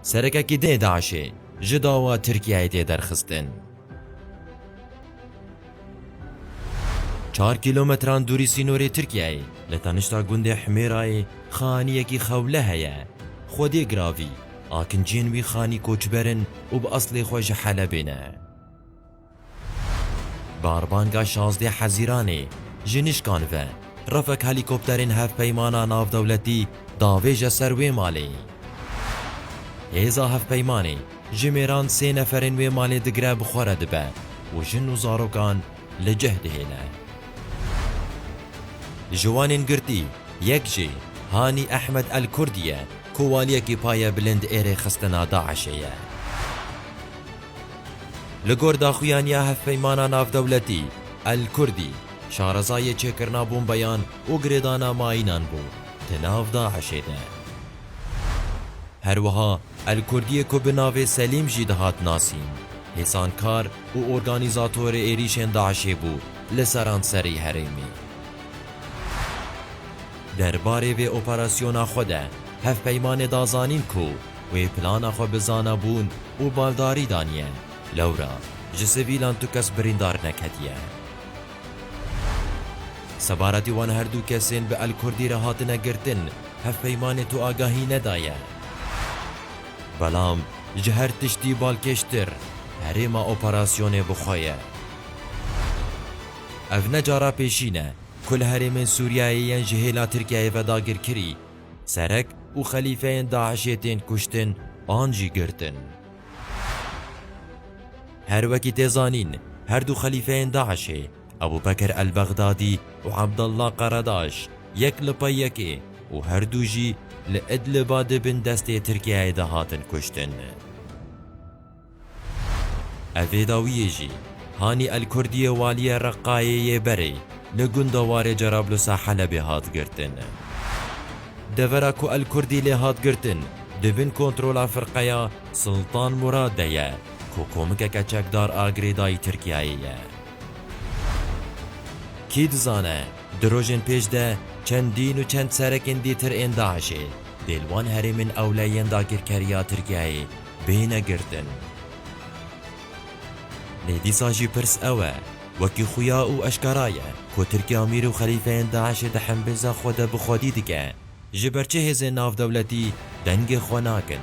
Serekekî dê DAIŞ'ê ji dawa Tirkiyeyê tê derxistin. Çar kîlometran dûrî sînorê Tirkiyeyê li tenişta gundê Himêrayê xaniyekî xewle heye. Xwedê Giravî, akinciyên wî xanî koçber in û bi eslê xwe ji Helebê ne. Barbanga şazdeh Hezîranê ji nişkan ve refek helîkopterên Hevpeymana Navdewletî davêje ser wê malê. Hêza Hevpeymanê ji mêran sê neferên wê malê digire bi xwe re dibe û jin û zarokan li cih dihêle. Ji wanên girtî yek jî Hanî Ehmed El Kurdî ye ku waliyekî paye bilind ê rêxistina DAIŞ'ê ye. Li gor daxuyaniya Hevpeymana Navdewletî, El Kurdî, şarezayê çêkirina bombeyan û girêdana mayînan bû di nav DAIŞ'ê de. Her wiha El Kurdî'ê ku bi navê Selîm jî dihat nasîn, hêsankar û organîzatorê êrîşên DAIŞ'ê bû li seranserî herêmê. Derbarê vê operasyona xwe de Hevpeymanê da zanîn ku wê plana xwe bi zanabûn û baldarî daniye. Lewra ji sivîlan tu kes birîndar neketiye. Sebaretî wan her du kesên bi El-Kurdî re hatine girtin, hevpeymanê tu agahî nedaye. Belam ji her tiştî balkêştir, herêma operasyonê bi xwe ye. Ev ne cara pêşîn e, ku li herêmên Sûriyeyê yên ji hêla Tirkiyeyê ve dagirkirî, Serek û xelîfeyên DAIŞ'ê tên kuştin an jî girtin. Her wekî tê zanîn, her du xelîfeyên DAIŞ'ê, Ebû Bekir el-Bexdadî û Abdallah Karadaş, yek li pey yekê û her du jî li Idliba di bin destê Tirkiyeyê de hatin kuştin. Evê dawiyê jî Hanî El Kurdiyê Waliyê Reqqayê yê berê li gunda warê Cerablusa Helebê hat girtin. Devera ku El Kurdî lê hat girtin di bin kontrola firqeya Siltan Murad de ye ku komikeke çekdar a girêdayî Tirkiyeyê ye. Kî dizane di rojên pêş de çendîn û çend serekên dîtir ên DAIŞ'ê dê li wan herêmên ewle yên dagirkeriya Tirkiyeyê bêne girtin. Lê dîsa jî pirs ew e, wekî xuya û eşkera ye ku Tirkiye amîr û xelîfeyên DAIŞ'ê di hembêza xwe de bi xwedî dike, ji ber çi hêzên navdewletî dengê xwe nakin?